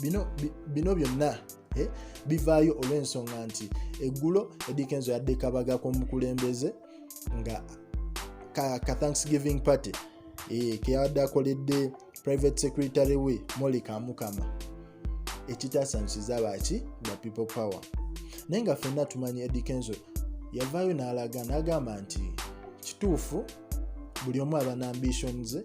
bino bino byonna eh, bivaayo olw'ensonga nti eggulo edikenzo yadde kabaga k'omukulembeze nga ka, ka thanksgiving party eh, keyabadde akoledde private secretary we moli kamukama ekitasanyikiza baki ba people power naye nga fenna tumanyi edikenzo yavaayo n'alaga n'agamba nti kituufu buli omu aba na ambition ze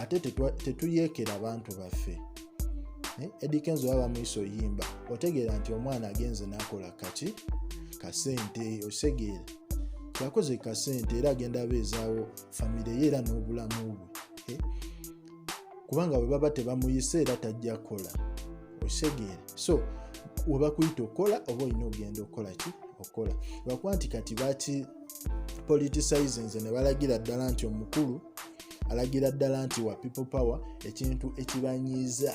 ate tetuyeekera abantu baffe eh, edikenzi oba bamuyisa oyimba otegeera nti omwana agenze nakola kaki kasente osegeera yakoze kasente era agenda abeezaawo famire ye era n'obulamu bwe eh, kubanga bwe baba tebamuyise era tajja kukola osegeera so webakuyita okukola oba olina ogenda okukola ki okukola lwakuba nti kati baki politicize nze ne balagira ddala nti omukulu alagira ddala nti wa people power ekintu ekibanyiiza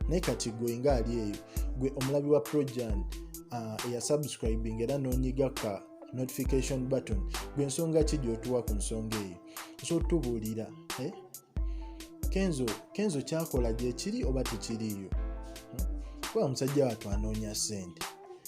naye kati gwe nga ali eyo gwe omulabi wa projan ah, eyasubscribing era nonyiga ka notification button gwe ensonga ki gyotuwa ku nsonga eyo nso tubuulira eh? kenzo kenzo kyakola gyekiri oba tekiriiyo hmm? kuba musajja watu anoonya sente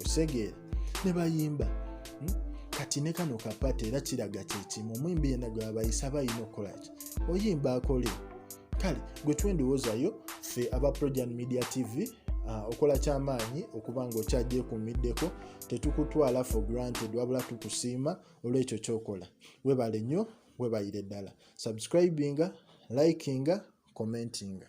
osegeera ne bayimba hmm? kati ne kano kapata era kiraga kyekimu omuyimbi yena gwe abayisa aba alina okukolaki oyimba akole kale gwe twendowoozayo ffe aba projan media tv Ah, okola kyamaanyi okuba nga okyagyekuumiddeko tetukutwala for granted wabula tukusiima olwekyo kyokola webale nnyo webayire ddala subscribinga likinga commentinga